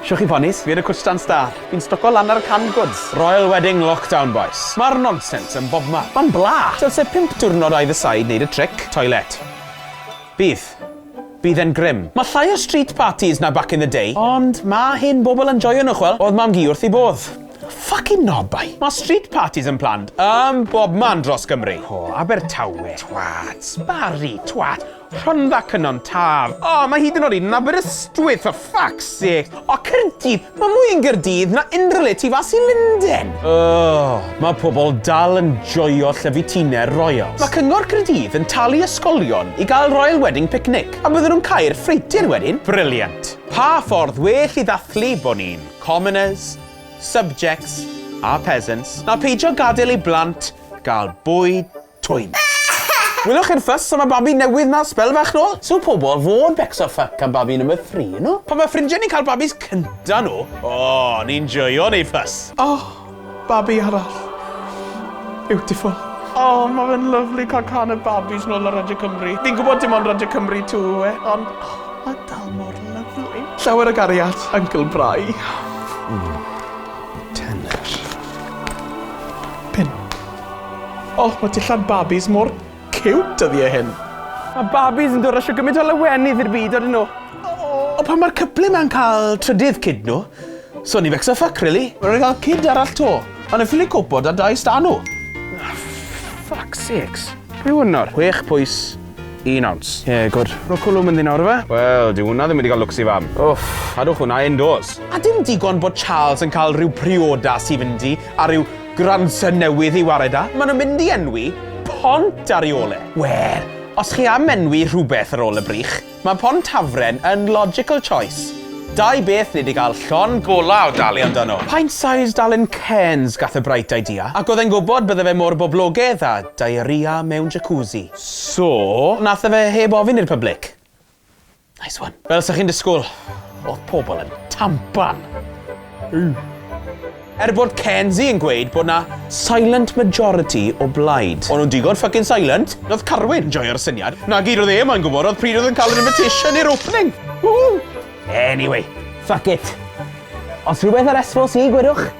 Shwch chi ponis, fi yn y cwstan star. Fi'n stoco lan ar y canned goods. Royal wedding lockdown bois. Ma'r nonsens yn bobman. Ma'n bla! Dylse pump diwrnod either side neud y tric. Toilet. Bydd. Bydd e'n grim. Ma' llai o street parties na back in the day, ond ma' hen bobl yn joio nhw ch'wel', o'dd mam-gu wrth 'i bodd. Ffycin nobau! Ma' street parties yn planned ym bobman dros Gymru. O, Abertawe, twats. Barri, twat. Rhondda Cynon Taf. O, mae hyd yn oed yn Aberystwyth, for fuck's sake! O, Caerdydd! Mae mwy yn Gaerdydd na unrhyw le tu fas i Lunden! Ugh, mae pobl dal yn joio llyfu tiner royals. Mae Cyngor Caerdydd yn talu ysgolion i gael Royal Wedding Picnic, a bydden nhw'n cau'r ffreutur wedyn! Brilliant! Pa ffordd well i ddathlu bod ni'n commoners, subjects a peasants na peidio gadael i blant gael bwyd Twym. Welwch chi'r fuss am y babi newydd 'na sbel fach nôl? So pobol, fo'n becso ffyc am babi number three, you know? Pan mae ffrindiau ni'n cael babis cynta nhw, o, ni'n joio neu ffys. Oh, babi arall. Beautiful. Oh, mae fe'n lyflu cael can y babis nôl ar Radio Cymru. Fi'n gwybod dim ond Radio Cymru tu yw e, ond oh, mae dal mor lyflu. Llawer o gariad, Uncle Brai. Mm. Tenor. Pin. Oh, mae dillad babis mor cute dyddiau hyn. Mae babis yn dod rasio gymaint o lawenydd i'r byd, oedden nhw. O, pan mae'r cyple ma'n cael trydydd cyd nhw, so ni fecsa ffuck, really. Rwy'n cael cyd arall to, ond yn ffili copo da dau stan nhw. Ah, fuck sakes. Pwy hwn nawr? Chwech pwys, un awns. Ie, yeah, gwrdd. Rwy'n cwlwm yn ddyn nawr fe? Wel, di hwnna ddim wedi cael lwcs i fam. Uff, cadwch hwnna indoors. A dim digon bod Charles yn cael rhyw priodas i fynd i, a rhyw Grandson newydd i ware da. Maen nhw'n mynd i enwi pont ar ei ôl e. Wel, os chi am enwi rhywbeth ar ôl y brych, mae Pont Hafren yn logical choice. Dau beth ni 'di gael llond golau o dalu amdano. Pint-sized Allen Cairns gath y Bright Idea, ac oedd e'n gwybod bydde fe mor boblogedd â diarrhea mewn jacuzzi. So, nath e fe heb ofyn i'r public? Nice one. Fel sa chi'n disgwyl, oedd pobl yn tampan. Ww. Er bod Kenzie yn gweud bod na silent majority o blaid. O'n nhw'n digon fucking silent. Roedd Carwyn, joio'r syniad. Na gyd oedd e mae'n gwybod oedd pryd oedd yn cael yr invitation i'r opening. Woo! Anyway, fuck it. Os rhywbeth ar esfos i, gwedwch.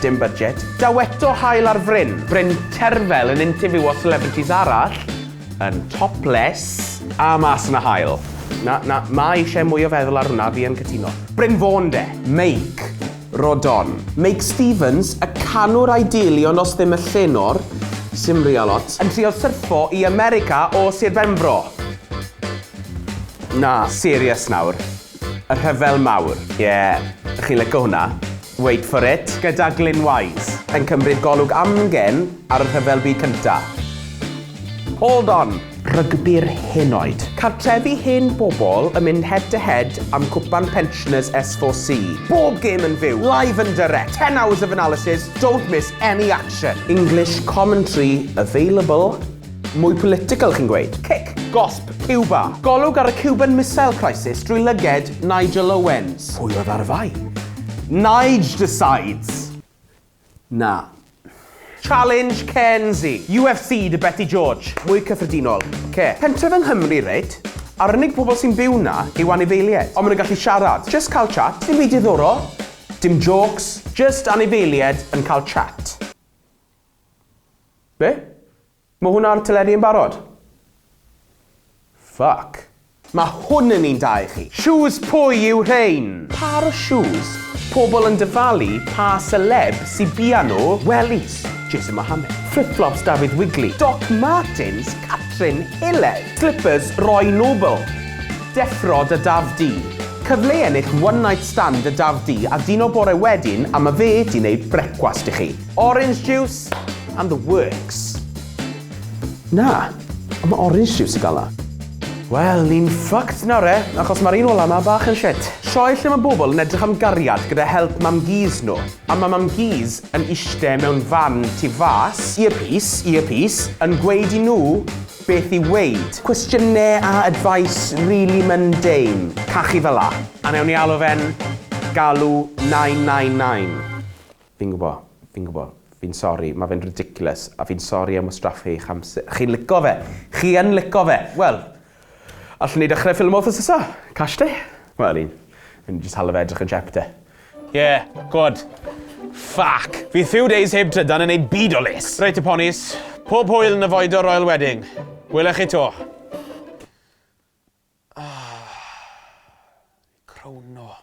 Dim budget. Daw eto haul ar fryn. Bryn Terfel yn intifywio celebrities arall yn topless. A mas yn y haul. Na, na, ma eisiau mwy o feddwl ar hwnna, fi yn cytuno. Bryn Fôn de! Meic. Rodon. Meic Stevens, y canwr a'i deulu ond os ddim y llenor, sim real ots. Yn trio syrffo i America o Sir Benfro. Na, serious nawr. Y rhyfel mawr. Ie, chi'n lico hwnna. Wait for it. Gyda Glyn Wise. Yn cymryd golwg amgen ar y Rhyfel Byd Cyntaf. Hold on! Rygbi'r hen oed. Cartrefi hen bobl yn mynd head to head am cwpan pensioners S4C. Bob gêm yn fyw, live and direct, 10 hours of analysis, don't miss any action. English commentary available. Mwy political chi'n gweud? Cic! Gosb Cuba. Golwg ar y Cuban Missile Crisis drwy lyged Nigel Owens. Pwy oedd ar y fai? Nige decides! Na. Challenge Kenzie. UFC dy Beti George. Mwy cyffredinol. Ce. Pentref yng Nghymru, reit? A'r unig pobl sy'n byw 'na yw anifeilied. Ond maen nhw'n gallu siarad. Jyst cael chat. Dim byd diddorol. Dim jôcs. Jyst anifeilied yn cael chat. Be? Mae hwn ar teledu yn barod? Fuck. Mae hwn yn un da i chi. Shoes pwy yw rhein? Pâr o shoes pobl yn dyfalu pa seleb sy bia nhw, wellies Jason Mohammad, fflip-fflops Dafydd Wigley, Doc Martens Catrin Hilled, slippers Roy Noble, deffro 'da Daf di, cyfle i ennill one night stand 'da Daf di a dino bore wedyn a ma fe 'di neud brecwast i chi. Orange juice and the works. Na, ond mae orange juice y gala. Wel, ni'n fucked nawr e, achos mae'r un ola 'ma bach yn shit. Sioe lle mae bobl yn edrych am gariad gyda help mam Gees nhw, a mae mam Gees yn ishte mewn fan tu fas, earpiece, earpiece, yn gweud i nhw beth i weud. Cwestiyne a advice really mundane, cachu fela. A newn ni alw fe'n galw 999. Fi'n gwbo, fi'n gwbo. Fi'n sori, ma fe'n ridiculous, a fi'n sori am wastraffu eich amser. Chi'n lico fe! Chi yn lico fe! Wel, allwn ni dechrau ffilmo wthnos nesa? Cash day? Wel, ni'n mynd i jyst hala fe edrych yn siep de. Ie, gwod. Ffyc! Fydd few days heb trydan yn neud byd o les! Reit te ponis, pob hwyl yn y Foedor Royal Wedding. Wele chi to. Ahh. Crono.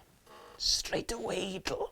Straight away, do.